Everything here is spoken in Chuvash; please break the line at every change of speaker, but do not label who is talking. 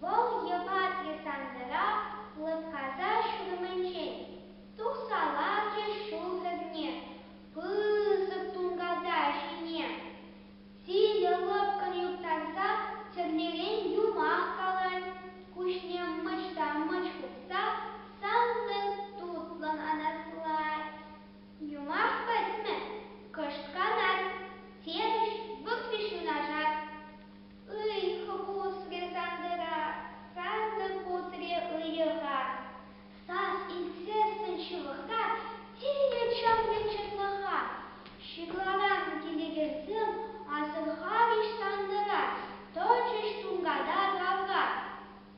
Вӑл йӑва десантра лӑпкаса ҫурӑмӗнчен тухса ларчӗ, ҫул хӗрне пысӑк тунката ҫине сивӗ лӑпкӑн юптарса тӗрлӗрен юмах калать, куҫне мӑчта-мӑч хупса сантӑк тутлӑн анаслать. Юмах пӗтмӗ, кӑшт канать, терӗҫ, вӑхриш юнашар. Ыйхӑ пусрӗ Сантӑра, сасӑ пусрӗ ыйӑха. Сас илтсессӗн ҫывӑхта тинӗ чӑмлӗ чӑтлӑха. Ҫырларан килекенсем асӑрхарӗҫ Сантӑра, тӑчӗҫ тунката тавра.